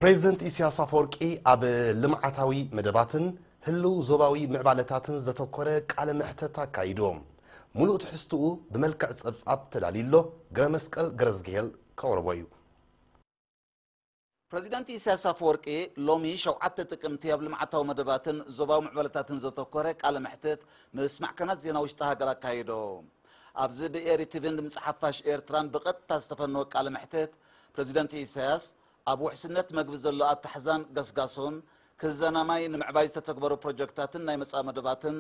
ፕሬዚደንት ኢሲያስ ኣፈወርቂ ኣብ ልምዓታዊ መደባትን ህልው ዞባዊ ምዕባለታትን ዘተኮረ ቃለ መሕተት ኣካይዱ። ሙሉእ ትሕዝትኡ ብመልክዕ ፀብፃብ ተዳልዩ ኣሎ፣ ግረመስቀል ገረዝግሄል ከቕርቦ እዩ። ፕረዚደንት ኢሳያስ ኣፈወርቂ ሎሚ ሸውዓተ ጥቅምቲ ኣብ ልምዓታዊ መደባትን ዞባዊ ምዕባለታትን ዘተኮረ ቃለ መሕትት ምስ ማዕከናት ዜና ውሽጢ ሃገር ኣካይዱ። ኣብዚ ብኤሪ ቲቪን ድምጺ ሓፋሽ ኤርትራን ብቐጥታ ዝተፈነወ ቃለ መሕትት ፕረዚደንት ኢሳያስ፣ ኣብ ውሕስነት መግቢ ዘሎ ኣታሕዛን ገስጋሶን፣ ክዘና ማይ፣ ንምዕባይ ዝተተግበሩ ፕሮጀክታትን ናይ መጻኢ መደባትን፣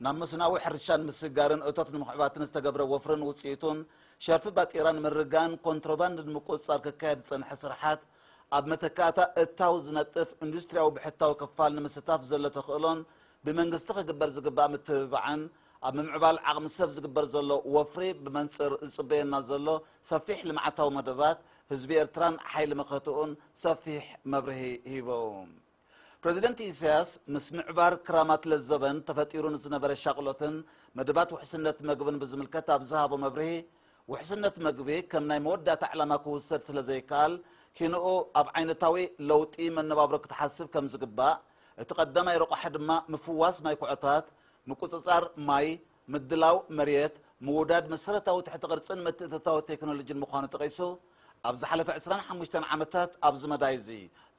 ናብ መስኖኣዊ ሕርሻን ምስግጋርን እቶት ንምኽዕባትን ዝተገብረ ወፍርን ውጽኢቱን፣ ሸርፊ ባጤራ ንምርጋን፣ ኮንትሮባንድ ንምቁጽጻር ክካየድ ዝጸንሐ ስርሓት፣ ኣብ መተካእታ እታው ዝነጥፍ ኢንዱስትሪያዊ ብሕታዊ ክፋል ንምስታፍ ዘሎ ተኽእሎን ብመንግስቲ ክግበር ዝግባእ ምትብባዕን፣ ኣብ ምምዕባል ዓቕሚ ሰብ ዝግበር ዘሎ ወፍሪ ብመንጽር ዝጽበየና ዘሎ ሰፊሕ ልምዓታዊ መደባት ህዝቢ ኤርትራን ሓይሊ መኸትኡን ሰፊሕ መብርሂ ሂቦም። ፕረዚደንት ኢሳያስ፣ ምስ ምዕባር ክራማት ለዘበን ተፈጢሩ ንዝነበረ ሻቕሎትን መደባት ውሕስነት መግብን ብዝምልከት ኣብ ዝሃቦ መብርሂ፣ ውሕስነት መግቢ ከም ናይ መወዳእታ ዕላማ ክውሰድ ስለዘይከኣል፣ ኪንኡ ኣብ ዓይነታዊ ለውጢ መነባብሮ ክትሓስብ ከምዝግባእ፣ እቲ ቀዳማይ ረቋሒ ድማ ምፍዋስ ማይ ኩዖታት፣ ምቁጽጻር ማይ፣ ምድላው መሬት፣ ምውዳድ መሰረታዊ ትሕቲ ቅርጽን ምትእትታው ቴክኖሎጂን ምዃኑ ጠቒሱ፣ ኣብ ዝሓለፈ ዕስራን ሓሙሽተን ዓመታት ኣብዚ መዳይ'ዚ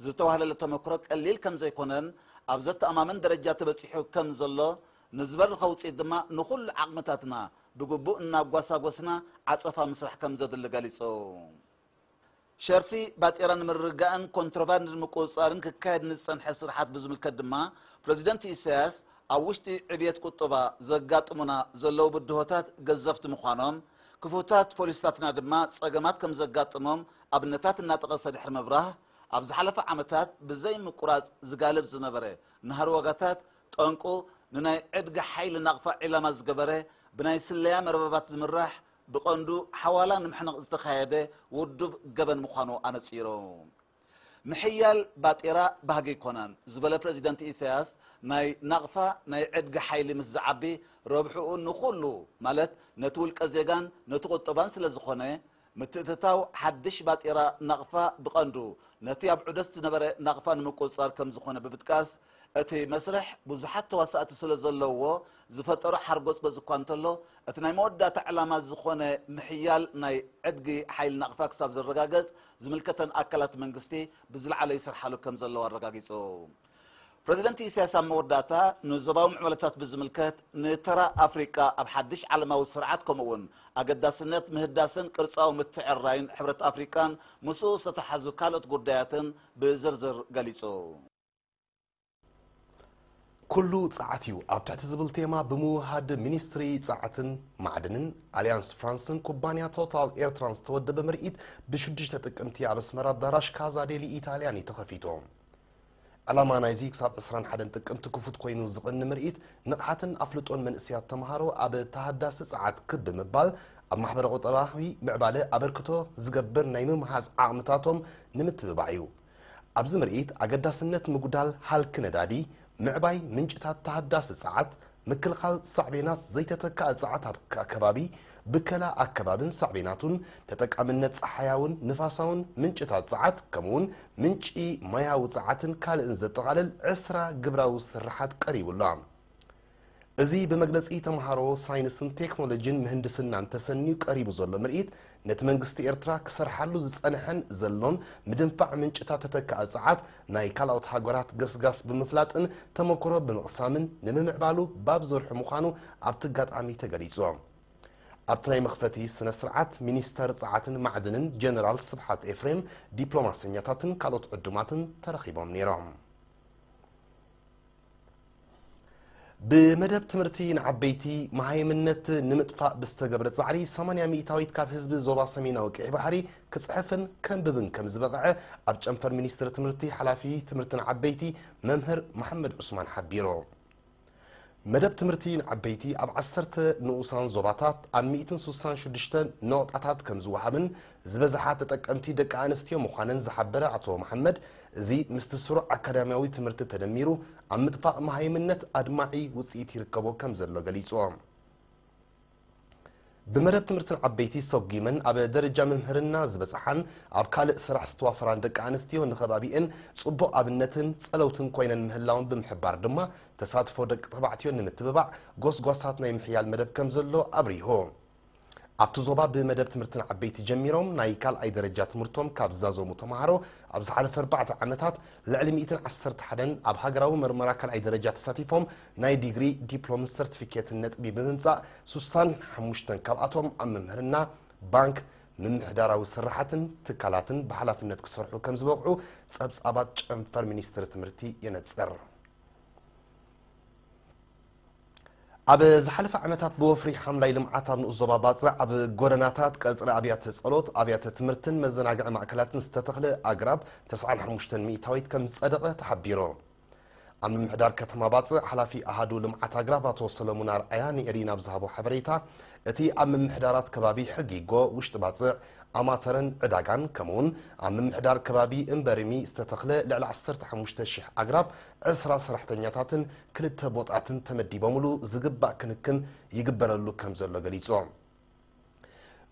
ዝተዋህለለ ተመክሮ ቀሊል ከምዘይኮነን ኣብ ዘተኣማምን ደረጃ ተበጺሑ ከምዘሎ፣ ንዝበረኸ ውጽኢት ድማ ንኹሉ ዓቕምታትና ብግቡእ እናጓሳጎስና ዓጸፋ ምስራሕ ከምዘድሊ ገሊጹ። ሸርፊ ባጤራ ንምርግጋእን ኮንትሮባንድ ንምቁፅፃርን ክካየድ ንዝፀንሐ ስርሓት ብዝምልከት ድማ ፕረዚደንት ኢሳያስ ኣብ ውሽጢ ዕብየት ቁጠባ ዘጋጥሙና ዘለዉ ብድሆታት ገዘፍቲ ምዃኖም፣ ክፉታት ፖሊሲታትና ድማ ፀገማት ከምዘጋጥሞም ኣብነታት እናጠቐሰ ድሕሪ ምብራህ ኣብ ዝሓለፈ ዓመታት ብዘይምቁራፅ ዝጋለብ ዝነበረ ናህሪ ዋጋታት ጠንቁ ንናይ ዕድጊ ሓይሊ ናቕፋ ዒላማ ዝገበረ ብናይ ስለያ መርበባት ዝምራሕ ብቐንዱ ሓዋላ ንምሕናቕ ዝተኻየደ ውዱብ ገበን ምዃኑ ኣነጺሮም፣ ምሕያል ባጤራ ባህጊ ኣይኮነን ዝበለ ፕረዚደንት ኢሳያስ፣ ናይ ናቕፋ ናይ ዕድጊ ሓይሊ ምስ ዝዓቢ ረብሕኡ ንኹሉ ማለት ነቲ ውልቀ ዜጋን ነቲ ቁጠባን ስለ ዝኾነ፣ ምትእትታው ሓድሽ ባጤራ ናቕፋ ብቐንዱ ነቲ ኣብ ዑደት ዝነበረ ናቕፋ ንምቁጽጻር ከም ዝኾነ ብምጥቃስ፣ እቲ መስርሕ ብዙሓት ተዋሳእቲ ስለ ዘለዉዎ ዝፈጠሮ ሓርጎጽጎጽ እኳ እንተሎ፣ እቲ ናይ መወዳእታ ዕላማ ዝኾነ ምሕያል ናይ ዕድጊ ሓይሊ ናቕፋ ክሳብ ዝረጋገጽ ዝምልከተን ኣካላት መንግስቲ ብዝለዓለ ይሰርሓሉ ከም ዘለዋ ኣረጋጊጹ። ፕረዚደንት ኢሳያስ ኣብ መወዳእታ ንዞባዊ ምዕባለታት ብዝምልከት ንተራ ኣፍሪቃ ኣብ ሓድሽ ዓለማዊ ስርዓት ከምኡ'ውን ኣገዳስነት ምህዳስን ቅርጻዊ ምትዕርራይን ሕብረት ኣፍሪቃን ምስኡ ዝተተሓሓዙ ካልኦት ጉዳያትን ብዝርዝር ገሊጹ። ኩሉ ጸዓት እዩ ኣብ ትሕቲ ዝብል ቴማ ብምውህሃድ ሚኒስትሪ ጸዓትን ማዕድንን፣ ኣልያንስ ፍራንስን ኩባንያ ቶታል ኤርትራን ዝተወደበ ምርኢት ብሽዱሽተ ጥቅምቲ ኣብ ኣስመራ ኣዳራሽ ካዛ ዴሊ ኢታልያን እዩ ተኸፊቱ። ዕላማ ናይዚ ክሳብ ዕስራን ሓደን ጥቅምቲ ክፉት ኮይኑ ዝቕኒ ምርኢት፣ ንቕሓትን ኣፍልጦን መንእሰያት ተመሃሮ ኣብ ተሃዳሲ ጸዓት ክብ ብምባል ኣብ ማሕበረ-ቁጠባዊ ምዕባለ ኣበርክቶ ዝገብር ናይ ምምሃዝ ዓቕምታቶም ንምትብባዕ እዩ። ኣብዚ ምርኢት ኣገዳስነት ምጉዳል ሃልኪ ነዳዲ፣ ምዕባይ ምንጭታት ተሃዳሲ ጸዓት፣ ምክልኻል ሳዕቤናት ዘይተተካኢ ጸዓት ኣብ ኣከባቢ፣ ብከላ ኣከባቢን ሳዕቤናቱን፣ ተጠቃምነት ጸሓያውን ንፋሳውን ምንጭታት ጸዓት ከምኡ'ውን ምንጪ ማያዊ ጸዓትን ካልእን ዘጠቓልል ዕስራ ግብራዊ ስርሓት ቀሪቡ ኣሎ። እዚ ብመግለጺ ተመሃሮ ሳይንስን ቴክኖሎጂን ምህንድስናን ተሰንዩ ቀሪቡ ዘሎ ምርኢት፣ ነቲ መንግስቲ ኤርትራ ክሰርሓሉ ዝጸንሐን ዘሎን ምድንፋዕ ምንጭታት ተተካኢ ጸዓት ናይ ካልኦት ሃገራት ገስጋስ ብምፍላጥን ተመኩሮ ብምቕሳምን ንምምዕባሉ ባብ ዘርሑ ምዃኑ ኣብቲ ኣጋጣሚ ተገሊጹ። ኣብቲ ናይ መኽፈቲ ስነ-ስርዓት፣ ሚኒስተር ጸዓትን ማዕድንን ጀነራል ስብሓት ኤፍሬም፣ ዲፕሎማሰኛታትን ካልኦት ዕዱማትን ተረኺቦም ነይሮም። ብመደብ ትምህርቲ ንዓበይቲ መሃይምነት ንምጥፋእ ብዝተገብረ ፃዕሪ ሰማንያ ሚኢታዊት ካብ ህዝቢ ዞባ ሰሜናዊ ቀይሕ ባሕሪ ክፅሕፍን ከንብብን ከምዝበቕዐ ኣብ ጨንፈር ሚኒስትሪ ትምህርቲ ሓላፊ ትምህርቲ ንዓበይቲ መምህር መሓመድ ዑስማን ሓቢሩ። መደብ ትምህርቲ ንዓበይቲ ኣብ ዓሰርተ ንኡሳን ዞባታት ኣብ ሚእትን ስሳን ሽዱሽተን ነቑጣታት ከምዝወሃብን ዝበዝሓ ተጠቀምቲ ደቂ ኣንስትዮ ምዃነን ዝሓበረ ኣቶ መሓመድ፣ እዚ ምስቲ ስሩዕ ኣካዳሚያዊ ትምህርቲ ተደሚሩ ኣብ ምጥፋእ መሃይምነት ኣድማዒ ውፅኢት ይርከቦ ከምዘሎ ገሊፁ። ብመደብ ትምህርትን ዓበይቲ ሰጒመን ኣብ ደረጃ ምምህርና ዝበፅሓን ኣብ ካልእ ስራሕ ዝተዋፈራን ደቂ ኣንስትዮ ንከባቢኤን ፅቡቕ ኣብነትን ፀለውትን ኮይነን ምህላወን ብምሕባር ድማ ተሳትፎ ደቂ ተባዕትዮ ንምትብባዕ ጎስጓሳት ናይ ምሕያል መደብ ከምዘሎ ኣብሪሁ። ኣብቲ ዞባ ብመደብ ትምህርቲ ንዓበይቲ ጀሚሮም ናይ ካልኣይ ደረጃ ትምህርቶም ካብ ዝዛዘሙ ተምሃሮ ኣብ ዝሓለፈ ኣርባዕተ ዓመታት ልዕሊ ሚእትን ዓሰርተ ሓደን ኣብ ሃገራዊ መርመራ ካልኣይ ደረጃ ተሳቲፎም ናይ ዲግሪ፣ ዲፕሎምን ሰርቲፊኬትን ነጥቢ ብምምፃእ ስሳን ሓሙሽተን ካብኣቶም ኣብ ምምህርና፣ ባንክ፣ ምምሕዳራዊ ስርሓትን ትካላትን ብሓላፍነት ክሰርሑ ከምዝበቕዑ ፀብፃባት ጨንፈር ሚኒስትሪ ትምህርቲ የነፅር። ኣብ ዝሓለፈ ዓመታት ብወፍሪ ሓምላይ ልምዓት ኣብ ንኡስ ዞባ ባጽዕ ኣብ ጎደናታት፣ ቀጽሪ ኣብያተ ጸሎት፣ ኣብያተ ትምህርትን መዘናግዒ ማእከላትን ዝተተኽለ ኣግራብ ተስዓን ሓሙሽተን ሚእታዊት ከም ዝጸደቐ ተሓቢሩ። ኣብ ምምሕዳር ከተማ ባጽዕ ሓላፊ ኣሃዱ ልምዓት ኣግራብ ኣቶ ሰለሙን ኣርኣያ ንኤሪና ኣብ ዝሃቦ ሓበሬታ፣ እቲ ኣብ ምምሕዳራት ከባቢ ሕጊጎ፣ ውሽጢ ባጽዕ፣ ኣማተረን ዕዳጋን ከምኡ'ውን ኣብ ምምሕዳር ከባቢ እምበሪሚ ዝተተኽለ ልዕሊ ዓሰርተ ሓሙሽተ ሽሕ ኣግራብ ዕስራ ሰራሕተኛታትን ክልተ ቦጣትን ተመዲቦምሉ ዝግባእ ክንክን ይግበረሉ ከምዘሎ ገሊፆም።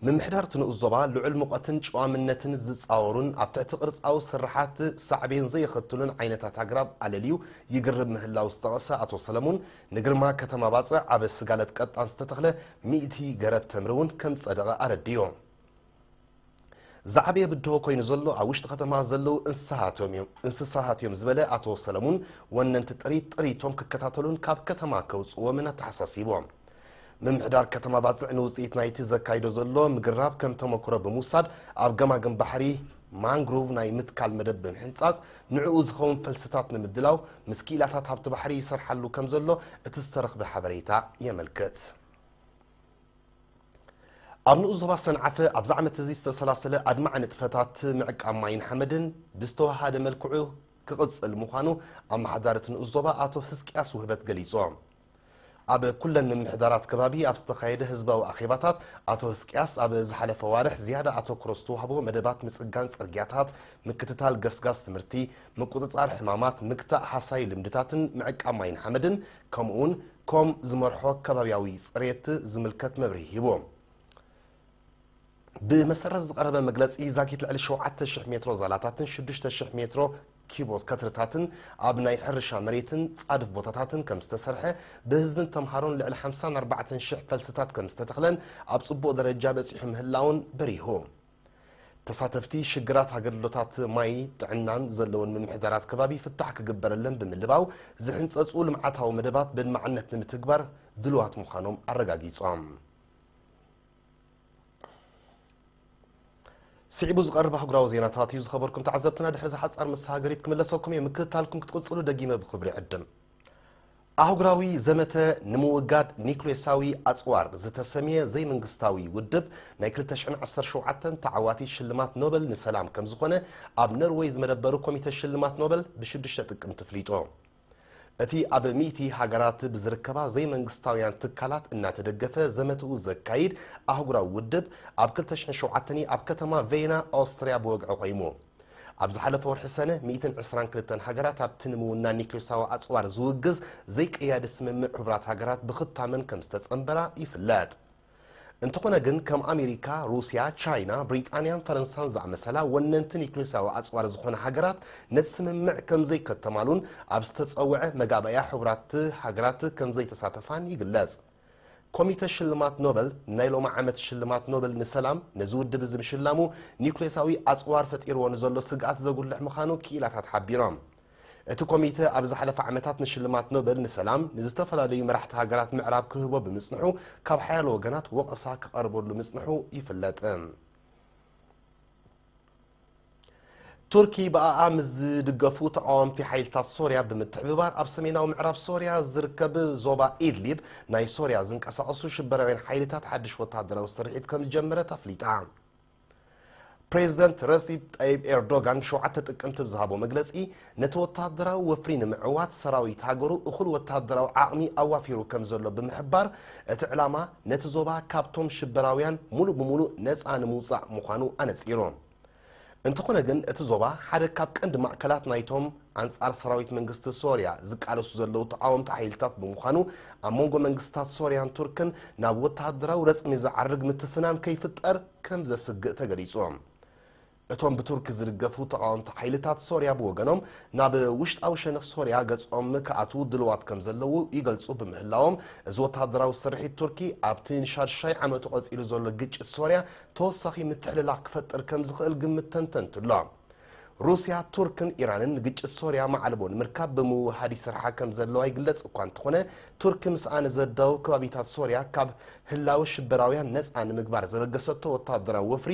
ምምሕዳር እቲ ንኡስ ዞባ ልዑል ሙቐትን ጨዋምነትን ዝፃወሩን ኣብ ትሕቲ ቅርፃዊ ስርሓት ሳዕቤን ዘየኸትሉን ዓይነታት ኣግራብ ኣለልዩ ይግርብ ምህላው ዝጠቐሰ ኣቶ ሰለሙን ንግርማ ከተማ ባፅዕ ኣብ ስጋለት ቀጣን ዝተተኽለ ሚእቲ ገረብ ተምሪ እውን ከምፀደቐ ኣረዲኡ። ዝዓበየ ብድሆ ኮይኑ ዘሎ ኣብ ውሽጢ ከተማ ዘለዉ እንስሳሃት እዮም ዝበለ ኣቶ ሰለሙን፣ ወነንቲ ጥሪት ጥሪቶም ክከታተሉን ካብ ከተማ ከውፅእዎምን ኣተሓሳሲቡ። ምምሕዳር ከተማ ባፅዕ ንውፅኢት ናይቲ ዘካይዶ ዘሎ ምግራብ ከም ተሞክሮ ብምውሳድ ኣብ ገማግም ባሕሪ ማንግሩቭ ናይ ምትካል መደብ ብምሕንፃፅ ንዕኡ ዝኸውን ፈልስታት ንምድላው ምስ ክኢላታት ሃብቲ ባሕሪ ይሰርሓሉ ከምዘሎ እቲ ዝተረኽበ ሓበሬታ የመልክት። ኣብ ንኡስ ዞባ ሰንዓፈ ኣብዚ ዓመት እዚ ዝተሰላሰለ ኣድማዒ ንጥፈታት ምዕቃብ ማይን ሓመድን ብዝተወሃሃደ መልክዑ ክቕፅል ምዃኑ ኣመሓዳሪ እቲ ንኡስ ዞባ ኣቶ ህዝቅያስ ውህበት ገሊፆም። ኣብ ኩለን ምምሕዳራት ከባቢ ኣብ ዝተኻየደ ህዝባዊ ኣኼባታት ኣቶ ህዝቅያስ ኣብ ዝሓለፈ ኣዋርሕ ዝያዳ ኣተኩሮ ዝተዋህቦ መደባት ምፅጋን ፅርግያታት፣ ምክትታል ገስጋስ ትምህርቲ፣ ምቁፅፃር ሕማማት፣ ምግታእ ሃሳዪ ልምድታትን ምዕቃብ ማይን ሓመድን ከምኡ እውን ኮም ዝመርሖ ከባብያዊ ፅሬት ዝምልከት መብርሂ ሂቡ። ብመሰረት ዝቐረበ መግለፂ ዛጊት ልዕሊ ሸውዓተ ሽሕ ሜትሮ ዛላታትን ሽዱሽተ ሽሕ ሜትሮ ኪቦ ከትርታትን ኣብ ናይ ሕርሻ መሬትን ፃድፍ ቦታታትን ከምዝተሰርሐ፣ ብህዝብን ተምሃሮን ልዕሊ ሓምሳን ኣርባዕተን ሽሕ ፈልስታት ከምዝተተኽለን ኣብ ፅቡቕ ደረጃ በፂሑ ምህላውን በሪሁ። ተሳተፍቲ ሽግራት ኣገልግሎታት ማይ፣ ጥዕናን ዘለወን ምምሕዳራት ከባቢ ፍታሕ ክግበረለን ብምልባው ዝሕንፀፁ ልምዓታዊ መደባት በድማዕነት ንምትግባር ድሉዋት ምዃኖም ኣረጋጊፆም። ስዒቡ ዝቐርብ ኣህጉራዊ ዜናታት እዩ ዝኸበርኩም ተዓዘብትና። ድሕሪ ዝሓፃር መሰሃገሪት ክምለሰኩም እየ። ምክትታልኩም ክትቅፅሉ ደጊመ ብክብሪ ዕድም ኣህጉራዊ ዘመተ ንምውጋድ ኒዩክሌሳዊ ኣጽዋር ዝተሰምየ ዘይመንግስታዊ ውድብ ናይ ክልተ ሽሕን ዓሰርተ ሸውዓተን ተዓዋቲ ሽልማት ኖበል ንሰላም ከምዝኾነ ኣብ ነርወይ ዝመደበሩ ኮሚተ ሽልማት ኖበል ብሽዱሽተ ጥቅምቲ ፍሊጡ። እቲ ኣብ ሚእቲ ሃገራት ብዝርከባ ዘይመንግስታውያን ትካላት እናተደገፈ ዘመትኡ ዘካይድ ኣህጉራዊ ውድብ ኣብ ክልተ ሽሕን ሸውዓተን ኣብ ከተማ ቬይና ኣውስትርያ ብወግዒ ቆይሙ። ኣብ ዝሓለፈ ወርሒ ሰነ፣ ሚእትን ዕስራን ክልተን ሃገራት ኣብቲ ንምውናን ኒክሌሳዊ ኣጽዋር ዝውግዝ ዘይቀያዲ ስምምዕ ሕቡራት ሃገራት ብኽታመን ከም ዝተጸንበራ ይፍለጥ። እንተኾነ ግን ከም ኣሜሪካ፣ ሩስያ፣ ቻይና፣ ብሪጣንያን ፈረንሳን ዝኣመሰላ ወነንቲ ኒክሌሳዊ ኣጽዋር ዝኾና ሃገራት ነቲ ስምምዕ ከም ዘይከተማሉን ኣብ ዝተጸውዐ መጋባእያ ሕቡራት ሃገራት ከም ዘይተሳተፋን ይግለጽ። ኮሚተ ሽልማት ኖበል ናይ ሎሚ ዓመት ሽልማት ኖበል ንሰላም ነዚ ውድብ እዚ ምሽላሙ ኒዩክሌሳዊ ኣጽዋር ፈጢርዎ ንዘሎ ስግኣት ዘጉልሕ ምዃኑ ክኢላታት ሓቢሮም። እቲ ኮሚተ ኣብ ዝሓለፈ ዓመታት ንሽልማት ኖበል ንሰላም ንዝተፈላለዩ መራሕቲ ሃገራት ምዕራብ ክህቦ ብምጽንሑ ካብ ሓያሎ ወገናት ወቐሳ ክቐርበሉ ምጽንሑ ይፍለጥ። ቱርኪ ብኣኣ ምስ ዝድገፉ ተቓወምቲ ሓይልታት ሶርያ ብምትሕብባር ኣብ ሰሜናዊ ምዕራብ ሶርያ ዝርከብ ዞባ ኢድሊብ ናይ ሶርያ ዝንቀሳቐሱ ሽበራውያን ሓይልታት ሓድሽ ወተሃደራዊ ስርሒት ከምዝጀመረት ኣፍሊጣ። ፕሬዚደንት ረሲፕ ጣይብ ኤርዶጋን ሸውዓተ ጥቅምቲ ብዝሃቦ መግለፂ ነቲ ወተሃደራዊ ወፍሪ ንምዕዋት ሰራዊት ሃገሩ እኹል ወተሃደራዊ ዓቕሚ ኣዋፊሩ ከምዘሎ ብምሕባር፣ እቲ ዕላማ ነቲ ዞባ ካብቶም ሽበራውያን ሙሉእ ብሙሉእ ነፃ ንምውፃእ ምዃኑ ኣነፂሩ። እንተኾነ ግን እቲ ዞባ ሓደ ካብ ቀንዲ ማእከላት ናይቶም ኣንፃር ሰራዊት መንግስቲ ሶርያ ዝቃለሱ ዘለዉ ተቓወምቲ ሓይልታት ብምዃኑ ኣብ መንጎ መንግስታት ሶርያን ቱርክን ናብ ወተሃደራዊ ረፅሚ ዝዓርግ ምትፍናን ከይፍጠር ከምዘስግእ ተገሊፁ። እቶም ብቱርኪ ዝድገፉ ተቓወምቲ ሓይልታት ሶርያ ብወገኖም ናብ ውሽጣዊ ሸነኽ ሶርያ ገጾም ክኣትዉ ድሉዋት ከምዘለዉ ይገልጹ ብምህላዎም፣ እዚ ወተሃደራዊ ስርሒት ቱርኪ ኣብቲ ንሻድሻይ ዓመቱ ቀጺሉ ዘሎ ግጭት ሶርያ ተወሳኺ ምትሕልላኽ ክፈጥር ከምዝኽእል ግምት ተንተንቲ ኣሎ። ሩስያ፣ ቱርክን ኢራንን ንግጭት ሶርያ መዓልቦ ንምርካብ ብምውህሃድ ይሰርሓ ከምዘለዋ ይግለጽ እኳ እንተኾነ፣ ቱርኪ ምስኣ ንዘዳውብ ከባቢታት ሶርያ ካብ ህላወ ሽበራውያን ነጻ ንምግባር ዘበገሰቶ ወተሃደራዊ ወፍሪ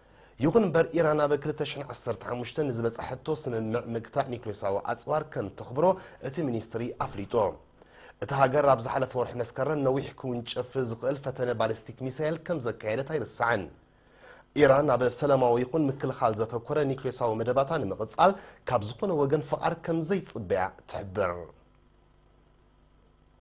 ይኹን እምበር ኢራን ኣብ ክልተ ሽሕን ዓሰርተ ሓሙሽተን ንዝበጽሐቶ ስምምዕ ምግታእ ኒክሌሳዊ ኣጽዋር ከም ተኽብሮ እቲ ሚኒስትሪ ኣፍሊጡ። እታ ሃገር ኣብ ዝሓለፈ ወርሒ መስከረም ነዊሕ ክውንጨፍ ዝኽእል ፈተነ ባሊስቲክ ሚሳይል ከም ዘካየደት ኣይርሳዕን። ኢራን ኣብ ሰላማዊ ይኹን ምክልኻል ዘተኮረ ኒክሌሳዊ መደባታ ንምቕጻል ካብ ዝኾነ ወገን ፍቓድ ከም ዘይጽበያ ትሕብር።